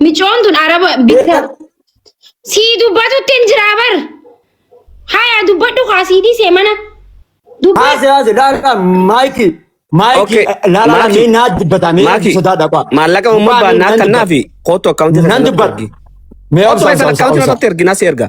Micoon tun araba bitta. Sii dubbatutti hin jiraa bar. Haya dubbadhu kaa sii dhiisee mana. Dubbadhu. Haase haase laala maayikii. Maayikii Okay. laala Maaki. mee naa dubbataa mee Maaki, sodaa dhaqaa. maallaqa uumama baannaa kannaa fi kootu akkaawuntii Nan dubbadhu. Mee Kootu obsa keessan obsa akkaawuntii obsa. irratti erginaa si erga.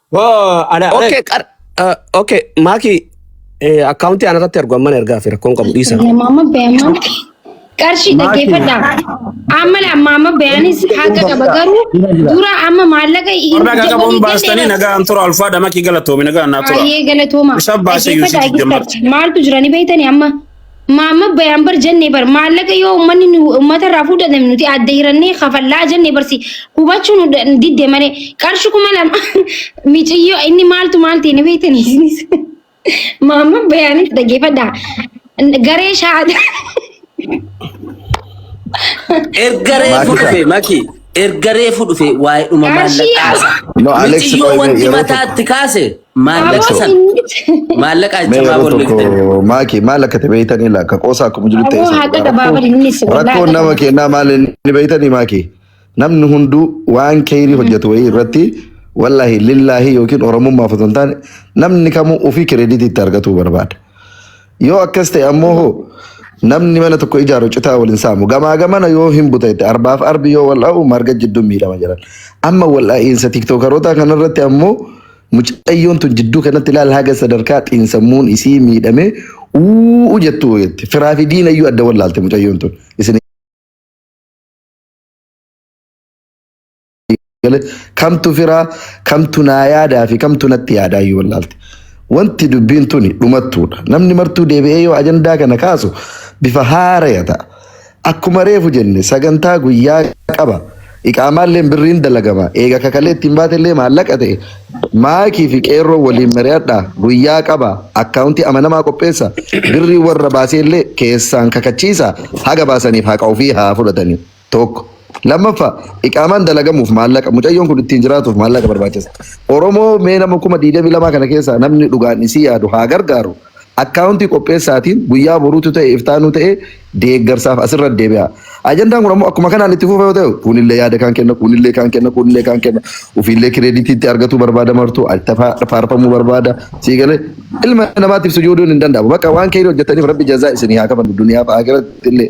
Woo, ana ana Okay, qar uh, okay, maaki eh, akkaawuntii ana irratti argu amman ergaa fi rakkoon qabu dhiisa. Yaa maama beeman qarshii dhaggeeffadha. Amma la maama beeyanis haqa qaba garuu dura amma maallaqa hin Warra akka qabuun baastanii nagaan tura alfaadha makii galatoomi nagaan naa tura. Baay'ee galatooma. Isa baasee Yuusuf Dhaggeeffadha, Jammar. dhaggeeffadha. Maaltu jira ni beektani amma? Maamma bayaan bar jennee bar maallaqa yoo uummanni nu uummata irraa fuudhatan nuti adda hirannee kafallaa jennee barsi hubachuu nu da- didde malee qarshi kuma lama miciyyoo inni maaltu maal ta'e ni beektanii isinis maamma bayaanis dhaggeeffadha garee shaada Erga reefu Maakisa. dhufe maki. Erga reefu dhufe waa'eedhuma Qarshii maallaqaa. yaa- No, Alex, Miciyoo wait, wanti yeroo tokko. mataatti kaase Maallaqa Aboo san inni maallaqa Mee achamaa yeroo tokko bolleeftanii. maakii maal akka ta'e beektanii laa akka qoosaa akkuma jiru ta'e aboo isa haqa dhugaa rakkoo gabaabari inni si wallaahi rakkoon nama gabaabari. kennaa maal inni beektanii maakii namni hunduu waan keeyrii hojjetu wayii irratti wallaahi lillaahi yookiin oromummaaf osoo hin taane namni kamuu ofii kireeditii itti argatuu barbaada. Yoo akkas ta'e ammoo hoo namni mana tokko ijaaru citaa wal hin saamu. Gamaa gamana yoo hin buta itti arbaaf arbi yoo wal dha'u marga jidduun miidhama jedhan. Amma wal dha'iinsa tiktookarootaa kanarratti ammoo mucayyoon tun jidduu kanatti ilaal haga sadarkaa xiinsammuun isii miidhamee uuu jettu jette. Firaa fi diina iyyuu adda wallaalte mucayyoon tun. Isin galee kamtu firaa kamtu naa yaadaa fi kamtu natti yaadaa iyyuu wallaalte. Wanti dubbiin tuni dhumattuudha. Namni martuu deebi'ee yoo ajandaa kana kaasu bifa haaraya ta'a. Akkuma reefu jenne sagantaa guyyaa qaba. Iqaamaallee birriin dalagama. Eega kakalee ittiin baatellee maallaqa ta'e. Maakii fi qeerroo waliin mari'adha. Guyyaa qaba. Akkaawuntii amanamaa qopheessa. Birrii warra baaseellee keessaan kakachiisa. Haga baasaniif haqa ofii haa fudhatanii. tokko. Lammaffaa iqaamaan dalagamuuf maallaqa mucayyoon kun ittiin jiraatuuf maallaqa barbaachisa. Oromoo mee nama kuma 22 kana keessaa namni dhugaan isii yaadu haa gargaaru. Akkaawuntii qopheessaatiin guyyaa boruutu ta'e iftaanuu ta'e deeggarsaaf asirra deebi'a. Ajandaan kun ammoo akkuma kanaan itti fufa yoo ta'e kuunillee yaada kaan kenna kuunillee kaan kenna kuunillee kaan kenna ofiillee kireeditii itti argatuu barbaada martuu itti faarfamuu barbaada sii galee ilma namaatiif sujuuduun hin danda'amu. Bakka waan keerii hojjetaniif rabbi jazaa isinii haa kafalu duniyaa fi aakiratti illee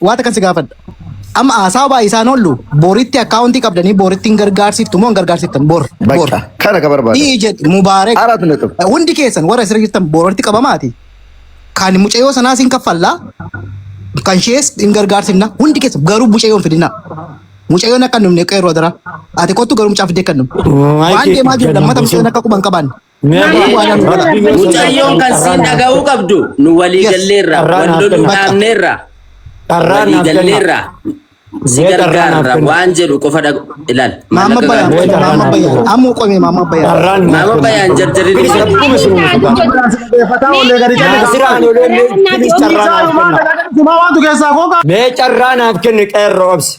Waa takan si gaafadha. Amma haasawa baay'isaan oollu boritti akkaawuntii qabdanii boritti hin gargaarsiiftu moo hin gargaarsiiftan bor bor. Bakka kana ka barbaada. Ii jedhi Mubaarek Arat naqab. hundi keessan warra asirra jirtan boritti qabamaati. Kan mucayyoo sanaas hin kaffallaa kan ishees hin gargaarsiifna hundi keessan garuu mucayyoo hin fidinaa. Mucayyoon akka hin dhumne qeerroo adaraa. Ati kottu garuu mucaa fiddee akka hin dhumne. Waan deemaa jiru lammata mucayyoon akka quban qabaanne. Mucayyoon kan siin dhaga'uu qabdu nu walii galleerra, wal loluu dhaabneerra, walii galleerra, si gargaarra waan jedhu qofa dhagu ilaal. Maama bayaan maama bayaan amma qomee maama bayaan. Maama bayaan jarjarri ni jedhu. Mee carraa naaf kenni qeerroo obsi.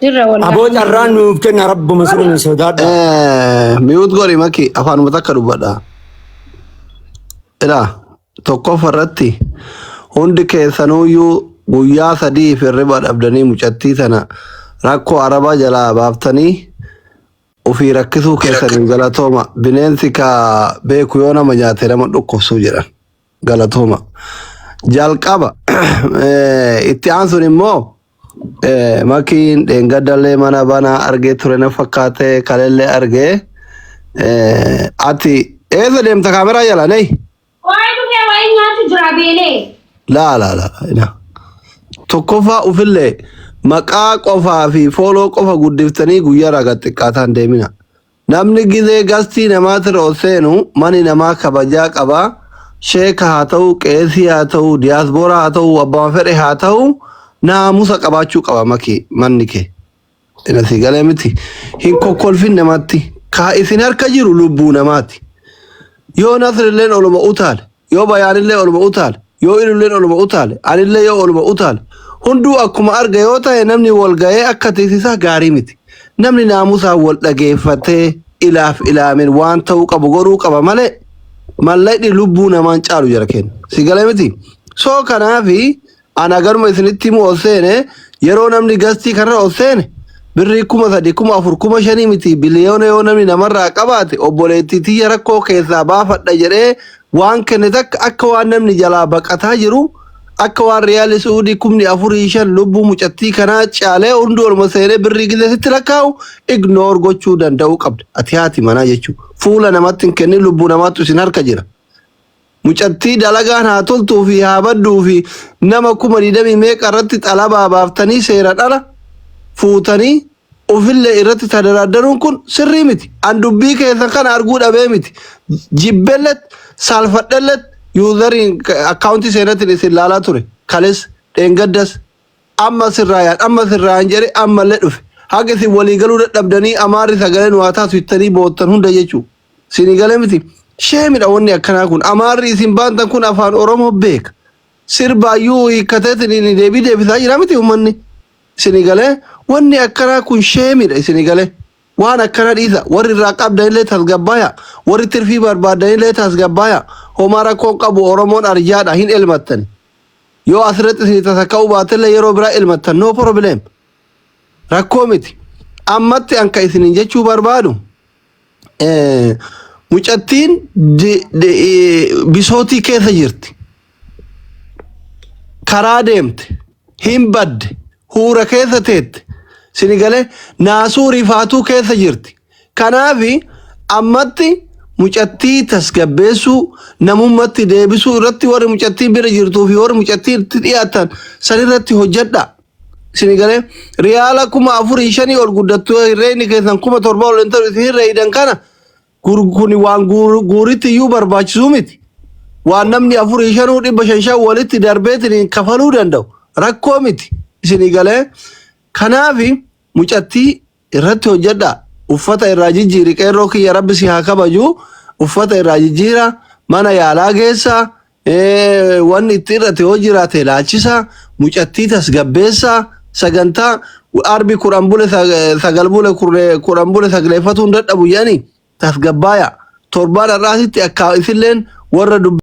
Jirra Aboo wallaahi. carraa nuuf kenna rabbuma sirri nu sodaadha. Miyuut godhi maki afaanuma takka dubbadha. Ila tokkofa irratti hundi keessanuyyuu guyyaa sadii fi riba dhabdanii mucattii tana rakkoo arabaa jalaa baaftanii ofii rakkisuu keessaniin galatooma bineensi ka beeku yoo nama nyaate nama dhukkubsuu jedhan galatooma. Jalqaba eh, itti aansuun immoo Makiin dheengaddalee mana banaa argee ture na fakkaate kalellee argee ati eessa deemta kaameraa jala nee Waa'ee dhufee waa'ee nyaatu jira beelee. laa laa laa ina tokkoffaa ufillee maqaa qofaa fi fooloo qofa guddiftanii guyyaa raga xiqqaataan deemina Namni gizee gastii namaatira ol seenu mani namaa kabajaa qaba sheeka haa ta'uu qeesii haa ta'uu diyaasbooraa haa ta'uu abbama fedhe haa ta'uu naamusa qabaachuu qaba maki manni kee ina sii galee miti hin kokkolfin namatti kaa isin harka jiru lubbuu namaati yoo nasrilleen oluma utaale Yoo bayaanillee oluma utaale, yoo ilulleen oluma utaale, anillee yoo oluma utaale, hunduu akkuma arga yoo tahe namni wal gahee akka tiksisaa gaarii miti. Namni naamusaan wal dhageeffatee ilaaf ilaamen waan tahuu qabu godhuu qaba malee mallaqni lubbuu namaan caalu jara keenya. Si galee miti? So kanaafi An aganuma isinitti himu ol seene yeroo namni gastii kanarra ol seene birrii kuma sadi kuma afur kuma shanii miti biliyoona yoo namni namarraa qabaate obboleettii tiyya rakkoo keessaa baafadha jedhee waan kenne takka akka waan namni jalaa baqataa jiru akka waan riyaali su'uudii kumni afurii shan lubbuu mucattii kanaa caalee hundi olma seenee birrii gisee sitti lakkaa'u ignoor gochuu danda'uu qabda ati haati manaa jechuu fuula namatti hin kennin lubbuu namaattu isin harka jira Mucattii dalagaan haa toltuu fi haa badduu fi nama kuma digdamii meeqa irratti xalabaa baaftanii seeran ala fuutanii ufillee irratti tadaraaddaruun kun sirrii miti. An dubbii keessan kana arguu dhabee miti. Jibbellet, saalfadhellet, yuuzariin akkaawuntii seenatiin isin laalaa ture. Kales, dheengaddas. Amma sirraayaan amma sirraayaan jedhee ammallee dhufe. Haga isin walii galuu dadhabdanii Amaarri sagalee nu haa taasisu jettanii boottan hunda jechuu. Isinii gale miti? Sheemidha wanni akkanaa kun. Amaarri isin baantan kun afaan Oromoo beeka. Sirbaayyuu hiikkateetiniin deebii deebisaa jira miti ummanni. Isinii galee? Wanni akkanaa kun sheemidha isinii galee? Waan akkanaa dhiisaa. Warri irraa qabdanillee tasgabbaayaa. Warri tirfii barbaaddanillee tasgabbaayaa. Homaa rakkoo hin qabu Oromoon arjaadha hin elmattani. Yoo asirratti isinii tasaka'uu baatellee yeroo biraa ilmattan no problem. Rakkoo miti. Ammatti an kan isiniin jechuu barbaadu eh, mucattiin di- di- eh, bisootii keessa jirti. Karaa deemte. Hin badde. Huura keessa teette. Sinigalee naasuu rifaatuu keessa jirti. Kanaaf ammatti mucattii tasgabbeessuu, namummatti deebisuu irratti warri mucattii bira jirtuu fi warri mucattii itti dhiyaatan san irratti hojjedha. Isin galee riyaala kuma afurii shanii ol guddattu hirreeyni keessan kuma torba ol intalu isin hirreeydan kana kun waan guuritti iyyuu barbaachisuu miti. Waan namni afurii shanuu dhibba shan shan walitti darbeetiniin kafaluu danda'u rakkoo miti. Isin galee kanaaf mucattii Irratti hojjadha uffata irraa jijjiiri qeerroo kiyya rabbi si haa kabaju uffata irraa jijjiira mana yaalaa geessa wanni itti irratti yoo jiraate ilaalchisa mucattii tasgabbeessa sagantaa arbi kudhan bule sagal bule kudhan bule sagleeffatuun dadhabu jedhani tasgabbaaya torbaan har'aasitti akka isilleen warra dubbi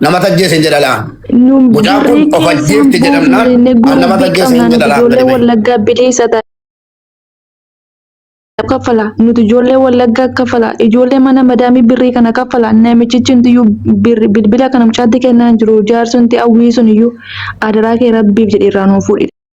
Nama tajjeese hin jedha laa. Nuun Mucaan kun birrii of keessaan ajjeefte jedhamnaan, buufne nama gurgurtii tajjeese hin qabnaan jedha laa, ijoollee gadi ba'i. wallaggaa bilisa ta'a. kaffala nuti ijoollee wallaggaa kaffala ijoollee mana madaamii birrii kana kaffala namichichi nuti iyyuu birri- bilbila kana mucaatti kennaa hin jiru jaarsi nuti hawwii sun iyyuu adaraa kee rabbiif jedhee irraa nuuf fuudhi.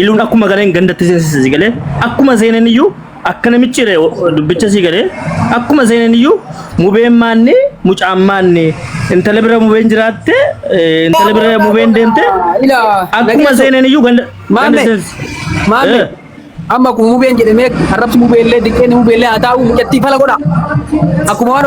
Iluun akkuma galeen gandatti seensise si galee akkuma seenan iyyuu akka namichi re- dubbicha si galee akkuma seenan iyyuu mubeen maanni mucaan maanni intala bira mubeen jiraatte eh, intala bira mubeen deemte Ilaa. akkuma seenan iyyuu ganda ganda Maame. seensise. Maame. Eh. Amma kun mubeen jedhamee arrabsi mubeellee diqqeen mubeellee haa taa'u mucattii fala godha. Akkuma waan